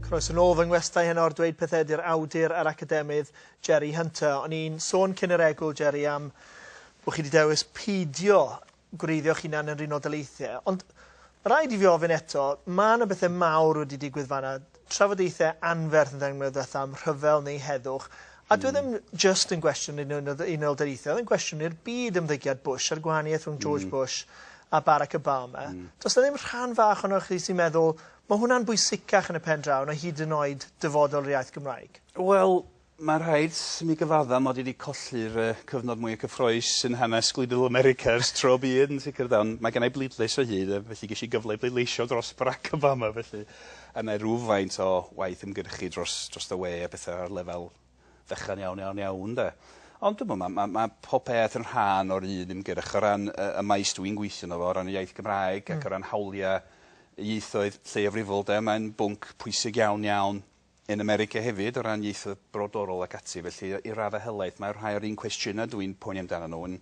Croes yn ôl fy ngwestai heno ar dweud pethau ydy'r awdur a'r academydd Jerry Hunter. O'n i'n sôn cyn yr egwl, Jerry, am bod chi wedi dewis peidio gwreiddio'ch hunan yn run o daleithiau. Ond rhaid i fi ofyn eto, mae yna bethau mawr wedi digwydd fanna. trafodaethau anferth yn dangos mwy o ddatha am rhyfel neu heddwch, a dyw e ddim jyst yn gwestiwn un o Unol Daleithiau, oedd e'n gwestiwn i'r byd ymddygiad Bush a'r gwahaniaeth rhwng George Bush a Barack Obama. Does 'na ddim rhan fach ohonoch chi sy'n meddwl, 'ma hwnna'n bwysicach yn y pen draw na hyd yn oed dyfodol yr iaith Gymraeg'? Wel, Mae'n rhaid i mi gyfaddau mod i wedi colli'r yy cyfnod mwya cyffrous yn hanes gwleidyddol America ers tro byd yn sicr de, ond mae gennai bleidlais o hyd yy felly gesh i gyfle i bleidleisio dros Barack Obama felly a nai rywfaint o waith ymgyrchu dros drost y we a petha ar lefel fechan iawn iawn iawn de. Ond dwi'm yn ma' ma' ma' pob peth yn rhan o'r un ymgyrch o ran yy y maes dwi'n gweithio yno fo o ran y iaith Gymraeg ac o ran hawlia' ieithoedd lleiafrifol de mae'n bwnc pwysig iawn iawn Yn America hefyd, o ran ieithoedd brodorol ac ati. Felly, i raddau helaeth, mae rhai o'r un cwestiynau dw i'n poeni amdanyn nhw yn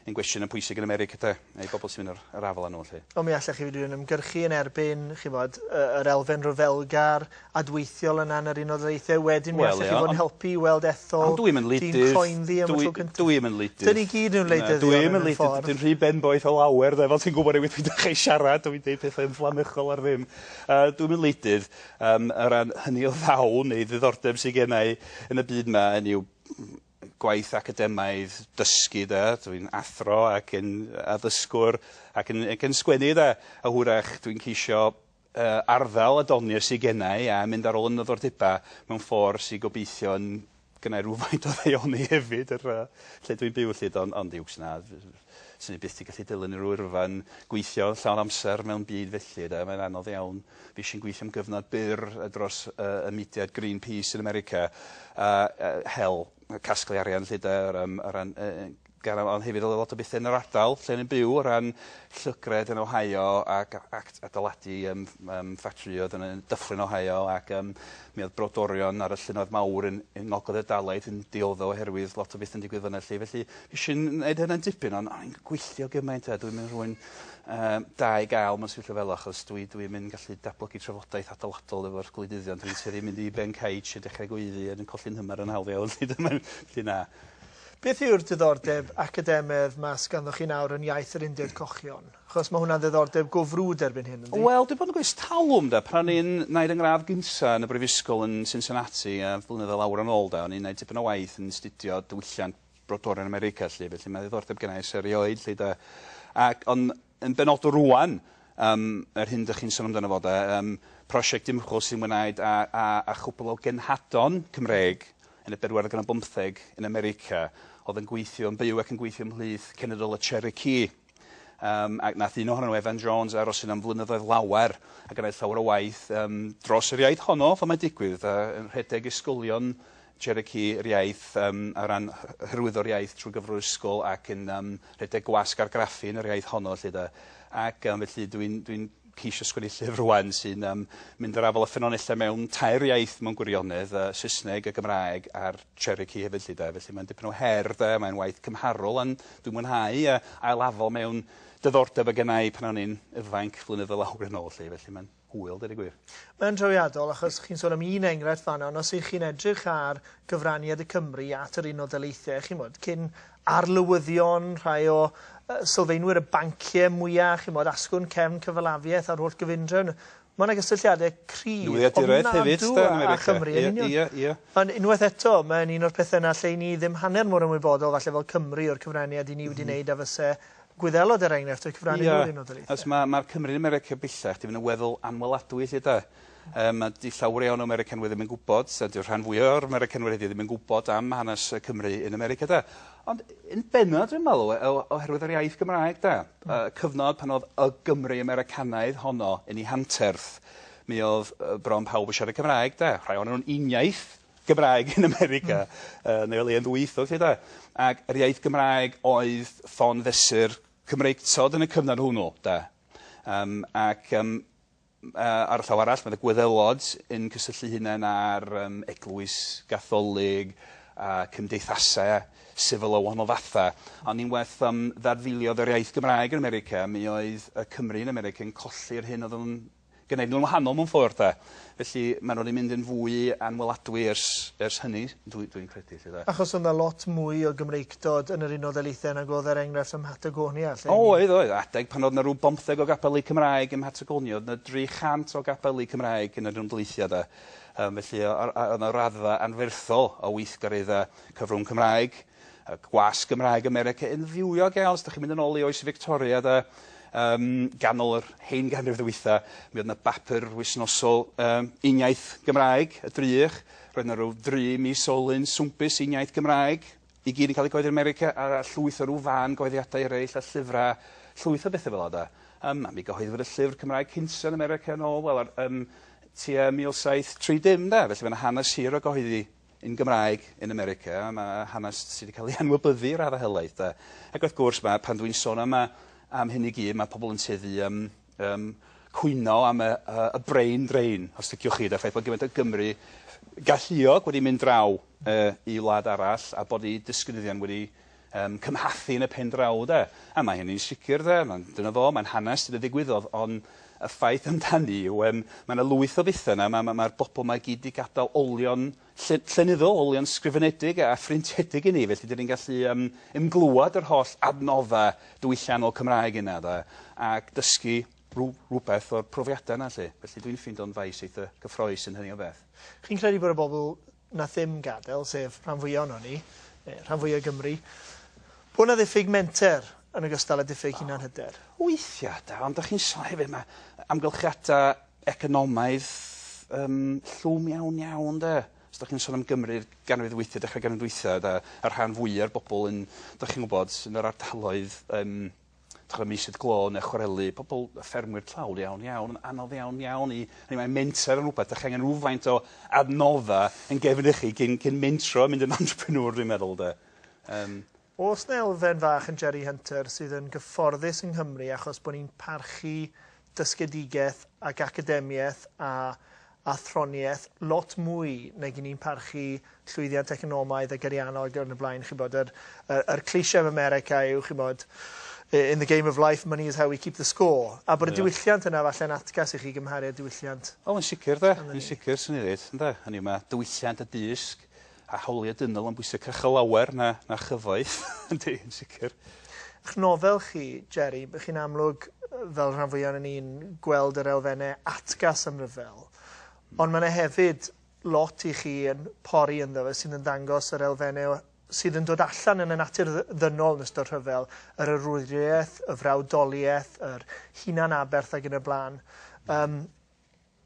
yn gwestiynau pwysig yn America, de, a'i bobl sy'n mynd yr yr afael â nhw, 'lly. Ond mi allech chi fyd yn ymgyrchu yn erbyn, chi'n gwybod, y yr elfen ryfelgar, adweithiol yna yn yr Unol Daleithiau. Wedyn mi allech chi fod yn helpu i weld ethol... Ond dw i'm yn wleidydd... ...dyn croenddu am y tro cyntaf. Dw i dw i'm yn wleidydd. Dyn ni gyd yn wleidyddion mewn ffordd. Dwi'n rhy benboeth o lawer, de, fel ti'n gwybod o'i wrth mynd â chi siarad, dwi'n deud pethau ymfflamychol ar ddim. Yy, dw i'm yn wleidydd. Yym, o ran hynny o ddawn neu ddiddordeb sy genna i yn y byd 'ma hynny yw gwaith academaidd, dysgu 'de, dwi'n athro ac yn addysgwr ac yn ac yn sgwennu 'de, a hwyrach dwi'n ceisio yy arddel y doniau sy genna i a mynd ar ôl 'y nyddordeba mewn ffor sy gobeithio yn Gynna i rywfaint o ddaioni hefyd yr yy lle dwi'n byw 'lly do ond uwch na f- f- swn i byth 'di gallu dilyn rw yrfa yn gweithio llawn amser mewn byd felly 'de mae'n anodd iawn. Fuesh i'n gweithio am gyfnod byr yy dros yy y mudiad Green Peace yn America a yy hel casglu arian 'lly 'de o ran o ran yy yy gan am- ond hefyd o le lot o bethe yn yr ardal lle o'n i'n byw o ran llygredd yn Ohio ac a- ac t- adeiladu yym ff- yym ffatrïoedd yn yn Dyffryn Ohio ac yym mi o'dd brodorion ar y llynnoedd mawr yn yn ngogledd y Dalaith yn diodde' oherwydd lot o betha'n digwydd fynna 'lly felly nesh i n- neud hynna'n dipyn on' o'n i'n gweithio gymaint a dwi'm yn rhywun yym da i ga'l mewn sefyllfa fela achos dwi dwi'm yn gallu datblygu trafodaeth adeiladol efo'r gwleidyddion dwi'n tueddu mynd i ben caets a dechre gweiddi a dwi'n colli'n hymer yn hawdd iawn 'lly dyna felly na. Beth yw'r diddordeb academaidd 'ma sy ganddoch chi nawr yn iaith yr Undeb Cochion? Achos mae hwnna'n ddiddordeb go frwd erbyn hyn, yndi? Wel, dwi bod yn gwneud 'ers talwm, 'de. Pan o'n i'n wneud 'y ngradd gynta' yn y brifysgol yn Cincinnati, yy, blynyddoedd lawer yn ôl, 'de, o'n i'n wneud tipyn o waith yn 'studio diwylliant brodorion America, 'lly, felly ma' ddiddordeb genna' i ers erioed, 'lly, 'de. Ac, on', Yn benodol rŵan, yym, yr hyn dych chi'n sôn amdano fo 'de, yym, prosiect ymchwil sy'n ymwneud â â â chwpwl o genhadon Cymreig yn y bedwaredd ganrif bymtheg yn America oedd yn gweithio, yn byw ac yn gweithio ymhlith cenedl y Cherokee. Yym, ac nath un ohonyn nhw, Evan Jones, aros yna am flynyddoedd lawer a gwneud llawer o waith yym dros yr iaith honno, fel mae'n digwydd, a yn rhedeg ysgolion Cherokee yr iaith yym o ran hy- hyrwyddo'r iaith trwy gyfrwr ysgol ac yn yym rhedeg gwasg argraffu yn yr iaith honno 'lly 'de. Ac yym felly dwi'n dwi'n ceisio sgwennu llyfr rŵan sy'n yym mynd i'r afael â ffynonellau mewn tair iaith mewn gwirionedd, yy Saesneg, y Gymraeg a'r Cherokee hefyd 'lly 'de. Felly mae'n dipyn o her 'de, mae'n waith cymharol on' dwi'n mwynhau yy ail-afal mewn diddordeb o' gennai pan o'n i'n ifainc flynyddoedd lawer yn ôl 'lly felly ma'n Hwyl, deud y gwir. Mae'n drawiadol, achos chi'n sôn am un enghraifft fan'na, ond os 'y chi'n edrych ar gyfraniad y Cymry at yr Unol Daleithiau, chi'n gwybod, cyn arlywyddion, rhai o sylfaenwyr y banciau mwya', chi'n gwybod, asgwrn cefn cyfalafiaeth a'r holl gyfundrefn, ma' 'na gysylltiadau cryf, ofnadw â Chymru yn union. Ie, ie, ie. Ond unwaith eto, mae'n un o'r pethe 'na lle 'yn ni ddim hanner mor ymwybodol falle fel Cymry o'r cyfraniad 'yn ni wedi neud a fyse Gwyddelod er enghraifft y cyfrannu yeah. rhywun o daleithiau. Os mae ma Cymru yn America bellach, di fynd yn weddol anweladwy lle da. Um, a di llawer iawn o Americanwyr ddim yn gwybod, a di'r rhan fwy o'r Americanwyr wedi ddim yn gwybod am hanes Cymru yn America da. Ond yn benna dwi'n meddwl, e, oherwydd yr iaith Gymraeg da, mm. uh, cyfnod pan oedd y Gymru Americanaidd honno yn ei hanterth, mi oedd bron pawb yn siarad Cymraeg da. Rhai o'n nhw'n uniaith, Gymraeg yn America yn ei le yn ddwyieithog 'lly 'de? Ag yr iaith Gymraeg oedd ffon fesur Cymreictod yn y cyfnod hwnnw 'de? Yym ac yym yy ar y llaw arall ma' 'na Gwyddelod yn cysylltu'i hunain â'r yym eglwys Gatholig a cymdeithase sifil o wahanol fatha ond unwaith yym ddadfeiliodd yr iaith Gymraeg yn America mi oedd y Cymry yn America yn colli'r hyn o'dd o'n gneud nhw'n wahanol mewn ffordd 'de. Felly maen nhw wedi mynd yn fwy anweladwy ers ers hynny dwi dwi'n credu 'lly 'de. Achos oedd 'na lot mwy o Gymreictod yn yr Unol Daleithiau nag oedd er enghraifft ym Mhatagonia 'lly? O oedd oedd. Adeg pan oedd 'na rw bymtheg o gapeli Cymraeg ym Mhatagonia oedd 'na dri chant o gapeli Cymraeg yn yr Unol Daleithiau 'de. Yym felly o- a- a- oedd 'na raddfa anferthol o weithgareddau cyfrwng Cymraeg. Y gwasg Gymraeg America yn fywiog iawn, os dych chi'n mynd yn ôl i oes Victoria de, um, ganol yr hen ganrif ddwytha, mi oedd yna bapur wisnosol um, uniaith Gymraeg, y drych, roedd yna rhyw dri mis olyn swmpus uniaith Gymraeg, i gyd yn cael ei goeddi yn America, a llwyth o rhyw fan goeddiadau eraill a llyfrau, llwyth o bethau fel yna. Um, a mi gyhoeddwyd y llyfr Cymraeg cynta yn America yn ôl, wel, ar, um, tua 1730 de, felly mae'n hanes hir o gyhoeddi yn Gymraeg yn America, ma' hanes sy' 'di ca'l ei anwybyddu i radde helaeth 'de. Ac wrth gwrs ma' pan dwi'n sôn am y am hyn i gyd ma' pobol yn tueddu i yym yym cwyno am y yy y brain drain os liciwch chi 'de, y ffaith bod gymaint o Gymry galluog wedi mynd draw yy i wlad arall a bod 'u disgynyddion wedi yn cymhathu yn y pen draw 'de. A mae hynny'n sicr 'de, ma'n... dyna fo, mae'n hanes sydd yn ddigwyddodd, ond y ffaith amdani yw yym ma' 'na lwyth o bethe 'na, ma' ma' ma'r bobol 'ma i gyd 'di gadal olion lle- llenyddol, olion sgrifenedig a phrintiedig i ni, felly 'dan ni'n gallu yym ymglywed yr holl adnodda' diwylliannol Cymraeg yna 'de, ac dysgu rw- rwbeth o'r profiada' 'na 'lly. Felly dwi'n ffindo'n faes eitha' cyffrous yn hynny o beth. Chi'n credu bod y bobol na thim gadael, sef rhan fwya ohonon ni, neu rhan fwya Gymru, bod na ddiffyg menter yn ogystal â diffyg hunanhyder. Weithia da, ond dach chi'n sôn hefyd ma' amgylchiada economaidd yym llwm iawn iawn 'de. Os dach chi'n sôn am Gymru'r ganrif ddwytha, dechra ganrif ddwytha 'da, y rhan fwya'r bobol yn, dach chi'n wbod, yn yr ardaloedd yym dych ch'mod mislif glo ne' chwareli pobol yy ffermwyr tlawd iawn iawn yn anodd iawn iawn i hynny mae menter yn rwbeth 'dach chi angen rywfaint o adnodda yn gefn i chi cyn cyn mentro a mynd yn entrepreneur dwi'n meddwl 'de. Yym. O's 'na elfen fach yn Jerry Hunter sydd yn gyfforddus yng Nghymru achos bo' ni'n parchu dysgedigaeth ac academiaeth a athroniaeth lot mwy nag i ni'n parchu llwyddiant economaidd ac ariannol ac yn y blaen chi'bod yr yr yr cliché yn America yw chi'bod in the game of life money is how we keep the score a bod y diwylliant yna falle'n atgas i chi gymharu â diwylliant O yn sicr 'de yn sicr swn i'n ddeud ynde hynny yw ma' diwylliant a dysg A hawliau dynol yn bwysig cychel lawer na na chyfoeth yndi yn sicr. Ych nofel chi, Jerry, by chi'n amlwg, fel rhan fwya onan ni'n gweld yr elfenne atgas am ryfel. Ond ma' 'na hefyd lot i chi yn pori ynddo fe sydd yn ddangos yr elfenne o sydd yn dod allan yn y natur dd- ddynol yn ystod rhyfel, yr arwriaeth, y frawdoliaeth, yr hunan-aberth ag yn y bla'n. Yym.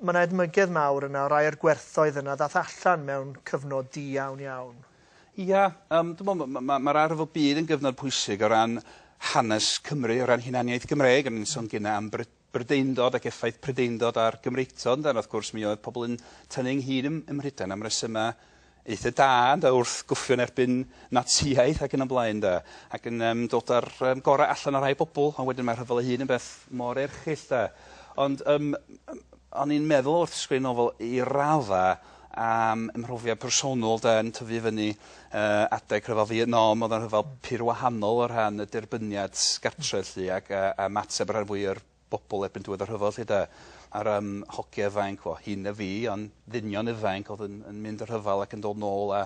Mae yna edmygedd mawr yna o rai o'r gwerthoedd yna ddath allan mewn cyfnod di iawn iawn. Ia, yym dwi me'wl ma' ma' ma'r arf o byd yn gyfnod pwysig o ran hanes Cymru, o ran hunaniaeth Gymreig, o'n i'n sôn gynne am Bry- Brydeindod ac effaith Prydeindod ar Gymreictod ynde, a wrth gwrs mi oedd pobol yn tynnu ynghyd ym ym Mhrydain am resyma eitha da ynde wrth gwffio yn erbyn Natsïaeth ac yn y blaen de ac yn yym dod a'r yym gorau allan o rhai bobl ond wedyn mae rhyfel ei hun yn beth mor erchyll de ond yym m- o'n i'n meddwl wrth sgwennu nofel i radda am ym mhrofiad personol de yn tyfu fyny yy adeg rhyfel Fietnam o'dd o'n rhyfel pur wahanol o rhan y derbyniad gartre 'lly ac yy a mateb y rhan fwya o'r bobl erbyn diwedd y rhyfel 'lly 'de. A'r yym hogia ifainc, wel hŷn na fi ond ddynion ifainc o'dd yn yn mynd y rhyfel ac yn dod nôl a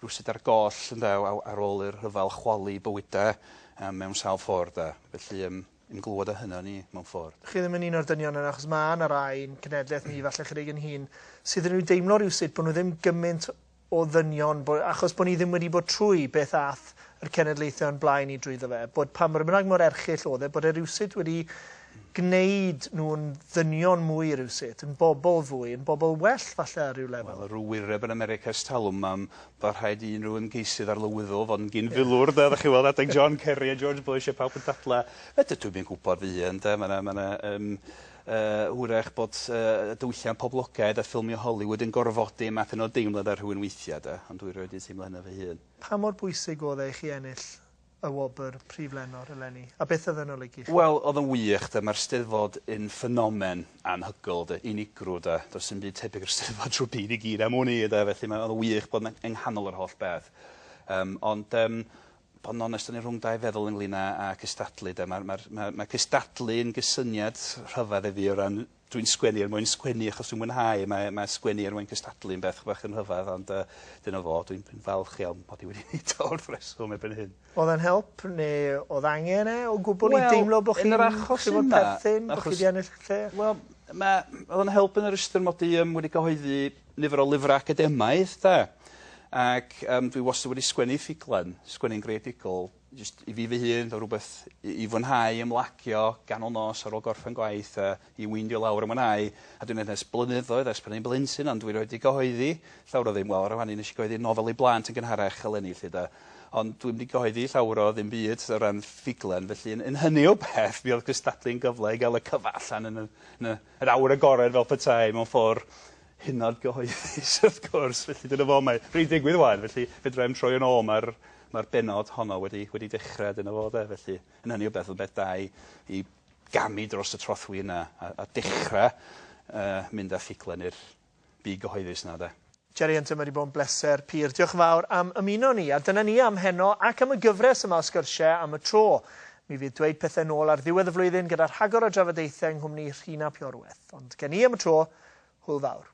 rywsut ar goll ynde o- aw- ar ôl i'r rhyfel chwalu bywyde yym mewn sawl ffordd 'de. Felly yym yn glwad o hynna o'n i mewn ffordd. Chi ddim yn un o'r dynion yna achos ma' 'na rai i'n cenedleth ni falle chydig yn hŷn sydd yn ryw deimlo rywsut bo' nw ddim gymint o ddynion, bo, achos bod ni ddim wedi bod trwy beth ath yr cenedlaethau o'n blaen ni drwyddo fe, bod pa mor bynnag mor erchyll oedd e, bod e rywsut wedi gwneud nhw'n ddynion mwy rywsut, yn bobl fwy, yn bobl well falle ar ryw lefel. Wel, ryw wyreb yn America ers talwm, mam, fel rhaid i unrhyw ymgeisydd arlywyddol fod yn gyn filwr, 'de, dach chi'n weld adeg John Kerry a George Bush a pawb yn dadlau, 'fedra dwi'm yn gwybod fy hun, 'de, ma' 'na, ma' 'na, yym, Hwyrach bod y diwylliant poblogaidd a ffilmio Hollywood yn gorfodi math yna o deimlad ar rhywun weithiau, de, ond dwi rioed 'di teimlo hynna fy hun. Pa mor bwysig oedd e i chi ennill y wobr Prif Lenor eleni, a beth oedd e'n olygu i chi? Wel, oedd o'n wych, de. Mae'r Steddfod yn ffenomen anhygoel, de, unigryw, de. Does dim byd tebyg i'r Steddfod drwy'r byd i gyd am wn i, de, felly mae... oedd o'n wych bod 'na yng nghanol yr holl beth. Yym, ond yym bod yn onest o'n i rhwng dau feddwl ynglyn â â cystadlu 'de. Ma'r ma'r ma' ma' cystadlu yn gysyniad rhyfedd i fi o ran dwi'n sgwennu er mwyn sgwennu achos dwi'n mwynhau mae mae sgwennu er mwyn cystadlu yn beth bach yn rhyfedd ond yy dyna fo dwi'n dwi'n falch iawn mod i wedi neud o wrth reswm erbyn hyn. O'dd e'n help neu o'dd angen e o gwbwl i deimlo bo' chi'n... Wel yn yr achos yma... ...bo' chi'n perthyn bo' chi 'di ennill lle? Wel ma' o'dd o'n help yn yr ystyr mod i yym wedi cyhoeddi nifer o lyfrau academaidd 'de ac yym dwi wastad wedi sgwennu ffuglen, sgwennu'n greadigol jyst i fi fy hun fel rwbeth i i fwynhau ymlacio ganol nos ar ôl gorffen gwaith a i weindio lawr a mwynhau a dwi'n neud 'na ers blynyddoedd ers pan o'n i'n blentyn ond dwi rioed 'di gyhoeddi llawr o ddim wel rŵan nesh i gyhoeddi nofel i blant yn gynharach eleni 'lly 'de ond dwi'm 'di gyhoeddi llawr o ddim byd o ran ffuglen felly yn yn hynny o beth mi o'dd cystadlu'n gyfle i ga'l y cyfan allan yn y yn y Yr awyr agored fel petai, mewn ffordd hynod gyhoeddus wrth gwrs, felly dyna fo, mae rhei'n digwydd ŵan, felly fedrai'm troi yn ôl, mae'r mae'r bennod honno wedi wedi dechra, dyna fo 'de, felly yn hynny o beth, rwbeth da i i gamu dros y trothwy yna a a dechra yy mynd â ffuglen i'r byd gyhoeddus 'na 'de. Jerry Hunter ma 'di bod yn bleser pur. Diolch yn fawr am ymuno â ni. A dyna ni am heno ac am y gyfres yma o sgyrsie am y tro. Mi fydd Dweud Pethe nôl ar ddiwedd y flwyddyn gyda rhagor o drafodaethau yng nghwmni Rhun ap Iorwerth. Ond gen i am y tro, hwyl fawr.